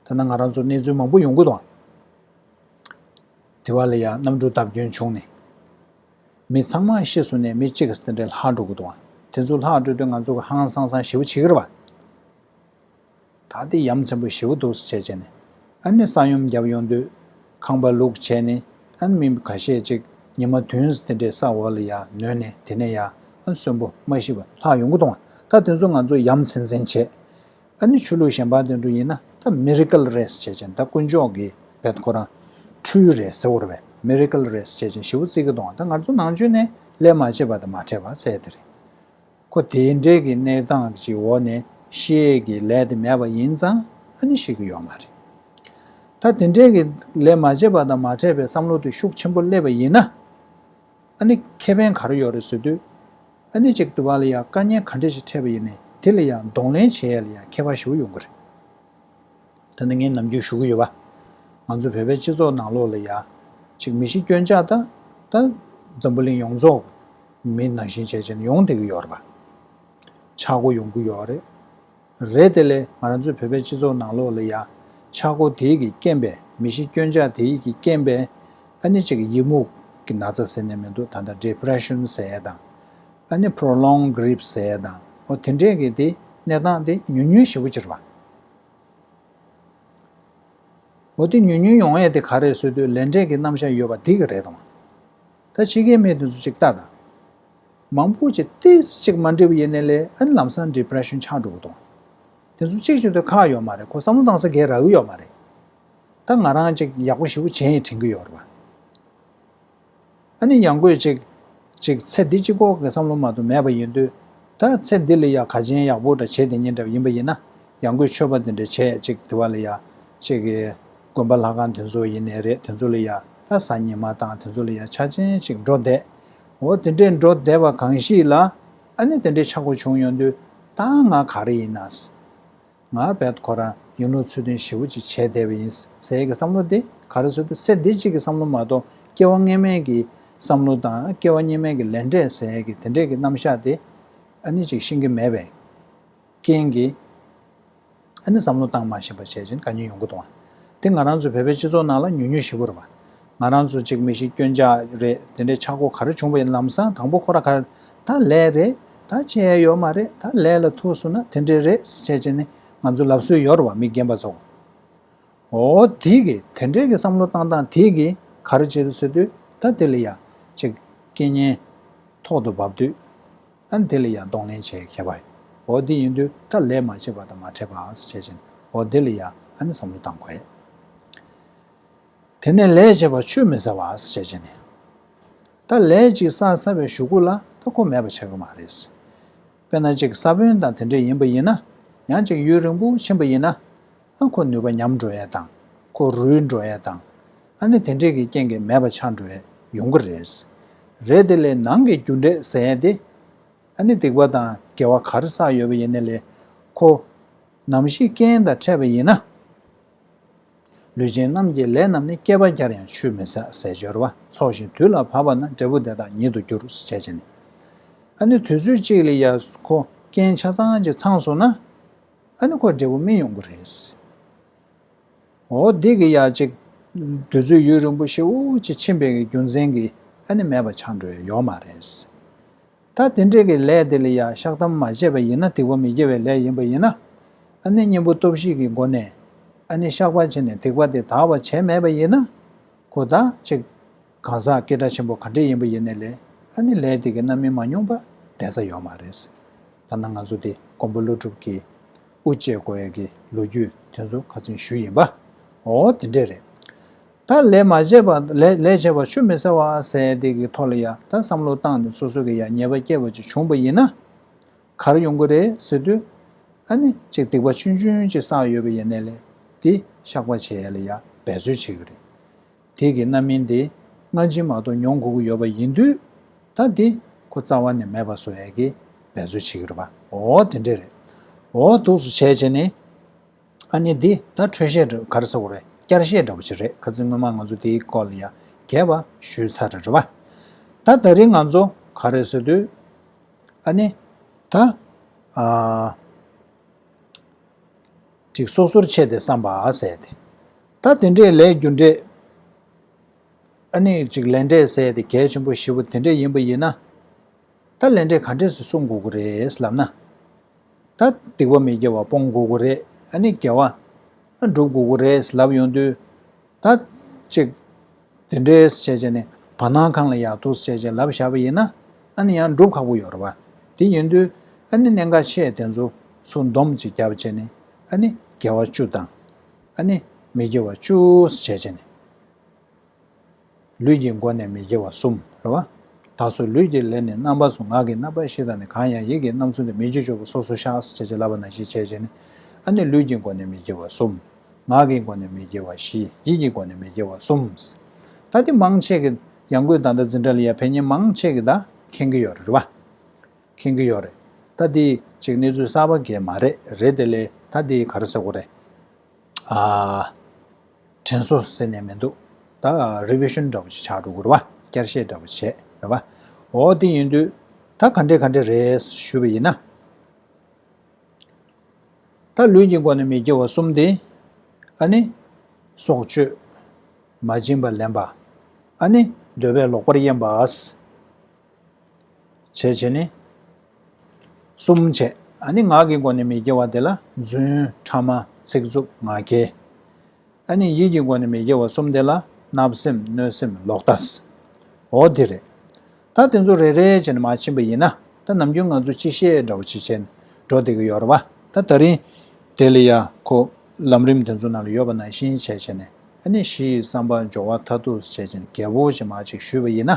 ཐ་ན་ང་རང་ཚོར་གནས་ཚུལ་མང་པོ་ཡོང་གི་དང། དེ་བ་ལ་ཡང་གནམ་གྲུ་བརྡབ་སྐྱོན་བྱུང་ནས། མི་ཚང་མ་ཤི་སོང་ནས་མི་གཅིག་གིས་དེ་འདྲའི་ལྷག་འགྲོ་གི་དང། དེ་ཚོ་ལྷག་འགྲོ་དུས་ང་ཚོ་གི་ཧང་སང་སང་ཞེ་བོ་བྱེད་གི་རེད་བ། ད་ལྟའི་ཡ་མཚན་པོ་ཞེ་བོ་འདུག་བསལ་བྱས་ནས་ཨ་ནི་ས་ཡོམ་བརྒྱབ་ཡོང་དུས་ཁང་པ་ལུག་བྱས་ནས་ཨ་ནི་མི་ག་ཤས་ཅིག་ཉི་མ་དུན་དེ་འདྲའི་ས་འོག་ལ་ཡང་ནོན་ནས་དེ་ནས་ཡང་ཨ་ནི་གསོན་པོ་མ་ཤི་བ་ལྷག་ཡོང་གི་དང། ད་དེ་ཚོ་ང་ཚོ་ཡ་མཚན་སེང་བྱས། ཨ་ནི་ཆོས་ལུགས་གཞན་པ་དོན་གྲུབ་ཡིན་ན་ད Miracle Race བྱས་ཅན་ད་དཀོན་མཆོག་གི་བེད་ཁོ་རང་འཁྲུལ་རེད་ཟེར་བོར་བས Miracle Race བྱས་ཅན་ཞི་བོ་རྩིས་ཀྱི་གདོང་ད་ང་ཚོ་ནང་ཆོས་ནས་ལས་མ་བྱེད་པ་དང་མ་འཕྲད་པ་གསལ་དེ་རེད། ཁོ་དེ་འདྲའི་གི་གནས་སྟངས་ཀྱི་འོག་ནས་ཤེས་ཡས་ཀྱི་ལས་དེ་མེད་པ་ཡིན་ཙང་ཨ་ནི་ཤེས་ཀྱི་ཡོད་མ་རེད། ད་དེ་འདྲའི་གི་ལས་མ་བྱེད་པ་དང་མ་འཕྲད་པའི་བསམ་བློ་དེ་ཤུགས་ཆེན་པོ་སླེབས་པ་ཡིན་ན། ཨ་ནི་ཁེ་ཕན་ག་རེ་ཡོད་རེད་ཟེར་དུས། ཨ་ནི་ཅིག་དུ་བ་ལ་ཡང་དཀའ་ཉེན་ག་འདྲས་ཞིག་འཕྲད་པ་ཡིན་ནས་དེ་ལ་ཡང་གདོང་ལེན་བྱེད་ཡས་ལ་ཡང་ཁེ་བ་ཞུ་གི་ཡོང་གི་རེད། ད་ནི་ངས་ནམ་རྒྱུན་ཞུ་གི་ཡོད་པ། ང་ཚོ་བོད་པའི་སྤྱི་ཚོགས་ནང་ལོགས་ལ་ཡ། ཅིག་མི་ཤི་སྐྱོན་ཆག་ད། ད། འཛམ་བུ་གླིང་ཡོངས་རྫོགས། མི་ནང་བཞིན་བྱས་བྱས་ནས་ཡོང་བསྡད་གི་ཡོད་རེད་པ། ཆག་སྒོ་ཡོང་གི་ཡོད་རེད། རེད་དེ་ལས་ང་རང་ཚོའི་བོད་པའི་སྤྱི་ཚོགས་ནང་ལོགས་ལ་ཡང་ཆག་སྒོ་དེ་ཡིག་གིས་རྐྱེན་པས་མི་ཤི་སྐྱོན་ཆག་དེ་ཡིག་གིས་རྐྱེན་པས་ཨ་ནི་ཅིག་ཡི་མུག་གི་ན་ཚ་ཟེར་ནས་མི་འདུག་ད་ལྟ Depression ཟེར་དང། ཨ་ནི Prolonged Grief ཟེར་དང་འོ་དེ་འདྲས་ཀྱི་དེ་གནས་སྟངས་དེ་ཉུལ་ཉུལ་ཞེ་པོ་ཅིག་རང། འོ་དེ་ཉུལ་ཉུལ་ཡོང་ཡས་དེ་ག་རེ་བཟོས་དུས་ལས་འབྲས་ཀྱི་རྣམ་བཞག་ཡོད་པ་དེ་གི་རེད་དང། ད་ཕྱི་རྒྱལ་མི་དེ་ཚོ་ཅིག་ལྟ་དང། མང་པོ་ཆེ་སྟེ་ཅིག་མ་འབྲས་བུ་ཡེ་ནས་ལས་ཨེ་ལམ་སང depression ཆགས་འགྲོ་གི་དོང། དེ་ཚོ་གཅིག་གཅིག་ཏུ་ཁག་ཡོད་མ་རེད་ཁོ་བསམ་བློ་བཏང་ས་གས་རག་གི་ཡོད་མ་རེད། ད་ང་རང་ཅིག་ཡག་པོ་ཞིག་པོ་བྱེད་ཡིན་དྲན་གི་ཡོད་རེད། ཨ་ནི་ཡང་དགོས་ཅིག་ཅིག་ཚེ་འདི་གཅིག་ཁོག་གི་བསམ་བློ་མ་དུ་མེད་པ་ཡིན་དུས་ད་ཚེ་འདི་ལ་ཡ་ག་ཅན་ཡག་པོ་འདྲ་བྱེད་དེ་ཉིན་འདྲ་ཡིན་པ་ཡིན་ན་ཡང་དགོས་ཆོས་པ་དེ་འདྲ་བྱས་ཅིག་དེ་བ་ལ་ཡ་ཅིག་དགོན་པ་ལྷ་ཁང་དེ་ཚོ་ཡེ་ནས་རེད་དེ་ཚོ་ལ་ཡ་ད་ཟ་ཉི་མ་དང་དེ་ཚོ་ལ་ཡ་ཆ་ཅན་ཅིག་འགྲོ་བསྡད་འོ་དེ་འདྲས་འགྲོ་བསྡད་པ་གང་ཞིག་ལ་ཨ་ནི་དེ་འདྲས་ཆགས་སྒོ་བྱུང་ཡོང་དུས་ད་ང་ག་རེ་ཡིན་ན། ང་བལ་ཁོ་རང་ཡིན་ལུགས་ཚུལ་ལྡན་ཞེ་བོ་ཅིག་བྱས་བསྡད་པ་ཡིན་ཟེར་གྱི་བསམ་བློ་དེ་ག་རེ་བཟོ་དུས་ཚེ་འདི་གཅིག་གི་བསམ་བློ་མ་གཏོགས་སྐྱེ་བ་སྔས་མའི་གི་བསམ་བློ་དང་སྐྱེ་བ་སྙེ་མའི་གི་ལས་འབྲས་ཟེར་གྱི་དེ་འདྲས་གི་རྣམ་གཞག་དེ་ཨ་ནི་ཅིག་ཤེས་གི་མེད་པའི་རྐྱེན་གྱིས། ཨ་ནི་བསམ་བློ་བཏང་མ་ཤེས་པ་བྱས་ཕྱིན་དགའ་ཉེ་ཡོང་གི་འདུག་ཨང། དེ་ང་རང་ཚོའི་བོད་པའི་སྤྱི་ཚོགས་ནང་ལ་ཉུང་ཉུང་ཞིག་བོར་བ། ང་རང་ཚོ་གཅིག་མི་ཤེས་སྐྱོན་ཆ་རེད་དེ་འདྲའི་ཆག་སྒོ་ག་རེ་བྱུང་བ་ཡིན་ལམ་སང་དང་པོ་ཁོ་ར་ག་རེད་ད་ལས་རེད་ད་བྱས་ཡོད་མ་རེད་ད་ལས་ལ་ཐུག་སོང་ན་དེ་འདྲའི་རེད་བྱས་ཕྱིན་ནི་ང་ཚོ་ལབ་སྲོལ་ཡོད་རེད་བ་མི་རྒན་པ་ཚོ། ཨོ་དེ་གི་དེ་འདྲའི་གི་བསམ་བློ་བཏང་བཏང་དེ་གི་ག་རེ་བྱེད་དུ་ཚུད་དུས་ད་དེ་ལ་ཡ་ཅིག་སྐད་སྙན་ཐོག་ཏུ་བབས་དུས། ཨན་དེ་ལ་ཡང་གདོང་ལེན་བྱེད་མཁས་པ། འོ་དེ་ཡིན་དུས་ད་ལས་མ་བྱས་པ་དང་མ་ཕྲད་པའང་བྱེད་ཅིང་འོ་དེ་ལ་ཡང་ཨན་བསམ་བློ་བཏང་དགོས། དེ་ནས་ལས་བྱས་པ་ཆུད་མི་ཟ་བར་བྱེད་ཅིང། ད་ལས་ཅིག་ས་ས་བའི་ཞུ་སྒོ་ལ་ད་ཁོ་མེད་པ་བྱེད་ཀྱི་མ་རེད། དཔེར་ན་ཅིག་ས་བོན་དང་དེ་འདྲ་ཡིན་པ་ཡིན་ན། ཡང་ཅིག་ཡུན་རིང་པོ་ཕྱིན་པ་ཡིན་ན། ཨ་ཁོ་ནུས་པ་ཉམས་འགྲོ་ཡས་དང། ཁོ་རུལ་འགྲོ་ཡས་དང། ཨ་ནི་དེ་འདྲས་ཀྱི་རྐྱེན་གྱིས་མེད་པ་ཆགས་འགྲོ་ཡས་ཡོང་གི་རེད། རེད་དེ་ལས་ནང་གི་རྒྱུ་འབྲས་ཟེར་ཡས་དེ། ཨ་ནི་སྡིག་པ་དང་དགེ་བ་གར་བསགས་ཡོད་པ་ཡིན་ནི་ལས། ཁོ། ནམ་ཞིག་རྐྱེན་དང་འཕྲད་པ་ཡིན་ན། ལུས་ཅན་རྣམས་ཀྱི་ལས་རྣམས་ནི་བསྐལ་པ་བརྒྱར་ཡང་ཆུད་མི་ཟ་ཟས་སྦྱོར་བ་ཚོགས་ཤིང་དུས་ལ་བབ་པ་ན་འབྲས་བུ་དེ་དག་ཉིད་དུ་འགྱུར་ཟེར་བྱས་ནི། ཨ་ནི་དུས་ཚོད་གཅིག་ལ་ཡས་ཁོ་རྐྱེན་ཆ་ཚང་གཅིག་ཚང་སོང་ན། ཨ་ནི་ཁོ་འབྲས་བུ་སྨིན་ཡོང་གི་རེད། འོ་འདི་གི་ཡ་གཅིག། དུས་ཚོད་ཡུན་རིང་པོ་ཞིག་དབུགས་ཀྱི་འཆིང་བས་རྒྱུ་མཚན་གྱིས་ཨ་ནི་མེད་པ་ཆགས་འགྲོ་ཡི་ཡོད་མ་རེད། ད་དེ་འདྲས་ཀྱི་ལས་དེ་ལ་ཡ་བཤགས་དམ་མ་བྱས་པ་ཡིན་ན་ཐིགས་པ་མི་སྐྱེ་བའི་ལས་ཡིན་པ་ཡིན་ན། ཨ་ནི་གཉེན་པོ་སྟོབས་བཞི་གི་སྒོ་ནས་ཨ་ནི་བཤགས་པ་བྱས་ནས་ཐིགས་པ་དེ་དག་བ་བྱས་མེད་པ་ཡིན་ན། ཁོ་ད་ཅིག། གང་ཟག་སྐད་སྒྲ་ཆེན་པོ་ག་འདྲའི་ཡིན་པ་ཡིན་ནས་ལས་ཨ་ནི་ལས་དེ་གི་རྣམ་སྨིན་མ་མྱོང་པ་བསྡད་ས་ཡོད་མ་རེད། ད་ནང་ང་ཚོ་འདི་མགོན་པོ་ཀླུ་སྒྲུབ་ཀྱི་དབུ་འབྱེད་དགོས་ཡ་གི་ལོ་རྒྱུས་དེ་ཚོ་ག་ཚུན་ཞུས་ཡིན་པ། འོ་དེ་འདྲས་རེད། ད་ལས་མ་བྱས་པ་ལས་བྱས་པ་ཆུ་མི་ཟ་བ་ཟས་དེ་གི་ཐོག་ལ་ཡ་ད་བསམ་བློ་བཏང་ནས་སོ་སོ་གི་ཡ་ཉེས་པ་སྐྱེས་པ་ཅིག་བྱུང་པ་ཡིན་ན། གར་ཡོང་གི་རེད་ཟེར་དུས། ཨ་ནི་ཅིག་སྡིག་པ་ཆུན་ཆུན་ཅིག་བསགས་ཡོད་པ་ཡིན་ནས་ལས་དེ་བཤགས་པ་བྱེད་ཡ་ལ་ཡ་འབད་རྩོལ་བྱེད་གི་རེད། དེ་གི་རྣམ་སྨིན་དེ་སྔ་འཆི་མ་གཏོགས་མྱོང་དགོས་ཀྱི་ཡོད་པ་ཡིན་དུས། ད་དེ་ཁོ་རྩ་བ་ནས་མེད་པ་བཟོ་ཡག་གི་འབད་རྩོལ་བྱེད་ཀྱི་རེད་པ་འོ་དེ་འདྲས་རེད། འོ་ཐུགས་སུ་ཆས་བྱས་ནས། ཨ་ནི་འདི་ད་འཕྲོས་བཤད་འདྲ་གར་ས་བོ་རེད་བསྐྱར་བཤད་འདྲ་བོ་ཅིག་རེད་ཁ་ཚིག་སྔོན་མ་ང་ཚོ་དེའི་སྐོར་ལ་ཡང་རྒྱས་པ་ཞུས་ཚར་རེད་རེད་བ། ད་ད་རིང་ང་ཚོ་ག་རེ་བཟོས་དུས། ཨ་ནི། ད། ཨ། ཅིག་སོ་སོར་ཕྱེས་ཏེ་བསམ་པ་ཟད་དེ། ད་དེ་འདྲའི་ལས་རྒྱུ་འབྲས་ཨ་ནི་ཅིག་ལས་འབྲས་ཟེར་ཏེ་གལ་ཆེན་པོ་བཞི་བོ་དེ་འདྲས་ཡིན་པ་ཡིན་ན། ད་ལས་འབྲས་ག་འདྲས་སུ་གསུངས་དགོས་ཀྱི་རེད་ལབ་ན། ད་སྡིག་པ་མི་དགེ་བ་སྤོང་དགོས་ཀྱི་རེད་ཨ་ནི་དགེ་བ་སྒྲུབ་དགོས་ཀྱི་རེད་ལབ་ཡོང་དུས། ད་ཅིག་དེ་འདྲས་བྱས་བྱས་ནས་བར་སྣང་གང་ལ་ཡག་ཐུག་བྱས་བྱས་ལབ་བཞག་པ་ཡིན་ན་ཨ་ནི་ཡང་སྒྲུབ་ཁག་པོ་ཡོང་རེ་བ་དེ་ཡིན་དུས་ཨ་ནི་གནད་འགག་ཆེ་དེ་ཚོ་སུ་འདོམས་ཅིག་རྒྱབ་བྱས་ནས་ཨ་ནི་དགེ་བ་བཅུ་དང། ཨ་ནི་མི་དགེ་བ་བཅུ་བྱས་བྱས་ནས། ལུས་ཀྱི་སྒོ་ནས་མི་དགེ་བ་གསུམ་རོ། ད་གཟོད་ལུས་ཀྱི་ལས་ནི་རྣམ་པ་སུ་ངག་གི་རྣམ་པ་བཞི་དང་ནི་གང་ཡང་ཡིད་ཀྱི་རྣམ་གསུམ་དུ་མི་བགྱིད་སྤྱོད་པ་སོ་སོར་བཤགས་བྱས་བྱས་ལ་བ་ན་བཞི་བྱས་བྱས་ནས། ཨ་ནི་ལུས་ཀྱི་སྒོ་ནས་མི་དགེ་བ་གསུམ། ངག་གི་སྒོ་ནས་མི་དགེ་བ་བཞི་ཡིད་ཀྱི་སྒོ་ནས་མི་དགེ་བ་གསུམ། ད་འདི་མང་ཆེ་གི། ཡང་སྒོས་ད་ལྟ་འཛིན་གྲྭ་ལ་ཡ་བྷེ་གཉིས་མང་ཆེ་གི་ད་མཁྱེན་གི་ཡོད་རེད་བ། མཁྱེན་གྱི་ཡོད་རེད་ད་དེ་ཅིག་གནས་ཚུལ་གསར་པ་འགས་མ་རེད་རེད་དེ་ལས་ད་དེ་ག་རེ་ཟེར་གོ་རེད། དྲན་གསོ་ཟེར་ནས་མི་འདུག་ད Revision འདྲ་པོ་ཅིག་ཆགས་འགྲོ་གི་རེད་བ་བསྐྱར་བཤད་འདྲ་པོ་བྱས་རེད་བ། འོ་དེ་ཡིན་དུས་ད་ག་འདྲས་ག་འདྲས་རེད་ཞུས་པ་ཡིན་ན། ད་ལུས་ཀྱི་སྒོ་ནས་མི་དགེ་བ་གསུམ་དེ་ཨ་ནི། སྲོག་གཅོད། མ་བྱིན་པ་ལེན་པ། ཨ་ནི། འདོད་པའི་ལོག་པར་གཡེམ་པ། བྱེད་བྱེད་ནི། གསུམ་བྱེད་ཨ་ནི་ངག་གི་སྒོ་ནས་མི་དགེ་བ་དེ་ལ་བརྫུན་ཕྲ་མ་ཚིག་རྩུབ་ངག་འཁྱལ། ཨ་ནི་ཡིད་ཀྱི་སྒོ་ནས་མི་དགེ་བ་གསུམ་དེ་ལ་བརྣབ་སེམས་གནོད་སེམས་ལོག་ལྟ། འོ་དེ་རེད། ད་དེ་ཚོ་རེ་རེ་བྱས་ནས་མ་ཕྱིན་པ་ཡིན་ན་ད་ནམ་རྒྱུན་ང་ཚོ་ཅི་བཤད་འདྲ་བོ་ཅིག་བྱས་ནས་འགྲོ་བསྡད་ཀྱི་ཡོད་རེད་བ་ད་ད་རིང་དེ་ལ་ཡ་ཁོ་ལམ་རིམ་དེ་ཚོ་ནང་ལ་ཡོད་པ་ནང་བཞིན་བྱས་བྱས་ནས་ཨ་ནི་གཞི་ཡི་བསམ་པ་འབྱོར་བ་མཐར་ཐུག་བྱས་བྱས་ནས་རྒྱལ་པོ་ཞེས་མ་ཅིག་ཞུས་པ་ཡིན་ན།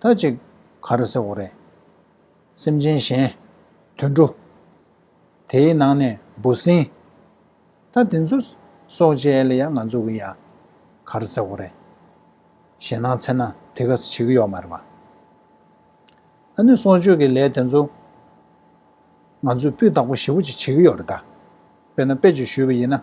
ད་ཅིག། ག་རེ་ཟེར་བ་རེད། སེམས་ཅན་གཞན། དུད་འགྲོ། དེའི་ནང་ནས་འབུ་སྲིན། ད་དེ་ཚོ། སྲོག་བཅད་ཡ་ལ་ཡ་ང་ཚོ་གི་ཡ། ག་རེ་ཟེར་བ་རེད། ཞེ་ནང་ཚེ་ན་དེ་ག་ས་བྱེད་ཀྱི་ཡོག་མ་རེད་བ། ད་ནི་སྲོག་གཅོད་ཀྱི་ལས་དེ་ཚོ། ང་ཚོས་སྤུས་དག་པོ་ཞེ་བོ་ཅིག་བྱེད་ཀྱི་ཡོག་རེད་ད། དཔེར་ན་དཔེ་ཅིག་ཞུས་པ་ཡིན་ན།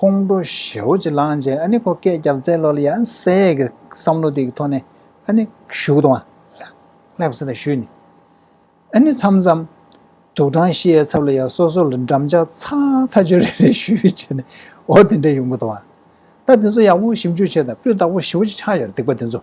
ཁོང་ཁྲོ་ཞེའོ་ཅེས་ལངས་རྗེས་ཨ་ནི་ཁོ་སྐད་རྒྱབ་རྩེ་ལོ་ལ་ཡང་གསལ་གྱི་བསམ་བློ་དེ་གི་ཐོག་ནས་ཨ་ནི་བཞུགས་དང། ལྷག་བསད་དང་ཞུས་ནས་ཨ་ནི་མཚམས་མཚམས་དུ་ཀྲང་ཤི་ཡའི་ཚབ་ལ་ཡང་སོ་སོ་ལ་འགྲམ་ལྕག་ཚགས་མཐའ་གཅོད་རེ་རེ་ཞུས་བྱས་ནས་འོ་དེ་འདྲའི་ཡོང་གི་འདུག་ཨ། ད་དེ་ཚོ་ཡག་པོ་ཞིབ་འཇུག་བྱས་དང་སྤུས་དག་པོ་ཞེའོ་ཅེས་ཆགས་ཡོད་རེད་སྡིག་པ་དེ་ཚོ།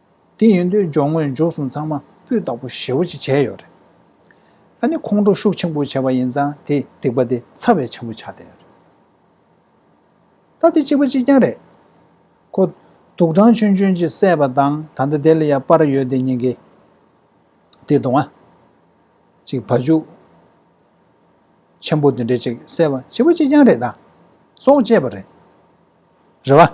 དེ་ཡིན་དུས་སྦྱོང་དངོས་མཇུག་གསུམ་ཚང་མ་སྤུས་དག་པོ་ཞེ་བོ་ཅིག་བྱས་ཡོད་རེད། ཨ་ནི་ཁོང་ཁྲོ་ཤུགས་ཆེན་པོ་བྱས་པ་ཡིན་ཙང་དེས་སྡིག་པ་དེ་ཚ་བས་ཆེན་པོ་ཆགས་བསྡད་ཡོད་རེད། ད་དེ་གཅིག་པ་གཅིག་རྐྱང་རེད། ཁོ། དུག་སྦྲང་ཆུན་ཆུན་གྱིས་བསད་པ་དང་ད་ལྟ་དེ་ལ་ཡང་པར་ཡོད་དེ་ཉེན་ཁའི། དེ་གདོང་ཨ། ཅིག་བ་ཅུ། ཆེན་པོ་དེ་འདྲས་ཅིག་བསད་པ་གཅིག་པ་གཅིག་རྐྱང་རེད་ད། སྲོག་བཅད་པ་རེད། རེད་བ།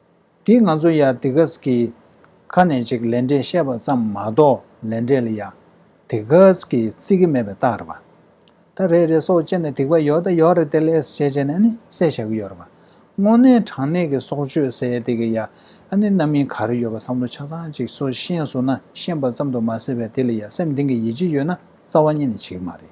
འདིས་ང་ཚོ་ཡ་དི་གྷས་ཀྱི་ཁ་ནས་ཅིག་ལན་འབྲས་བཤད་པ་ཙམ་མ་གཏོགས་ལན་འབྲས་ལ་ཡ་དི་གྷས་ཀྱི་རྩིས་ཀྱི་མེད་པའི་རྟགས་རེད་པ། ད་རེད་རེད་སོགས་ཅེས་ནས་དིག་པ་ཡོད་ད་ཡོད་རེད་ཏེལ་ཨེས་བྱས་བྱས་ནས་ནི་སེ་བྱ་གི་ཡོད་རེད་པ། དངོས་གནས་དྲང་གནས་ཀྱི་སྲོག་གཅོད་སེ་ཡ་དི་གྷས་ཡ་ཨ་ནི་རྣམ་གཡེང་ག་རེ་ཡོད་པ་བསམ་བློ་ཆ་ཚང་ཅིག་སོ་ཤེས་བཟོ་ན་ཤེས་པ་ཙམ་དུ་མ་ཟེར་བས་དེ་ལ་ཡ་སེམས་གཏིང་གི་ཡིད་ཆེས་ཡོད་ན་རྩ་བ་ཉིད་ནས་བྱེད་ཀྱི་མ་རེད།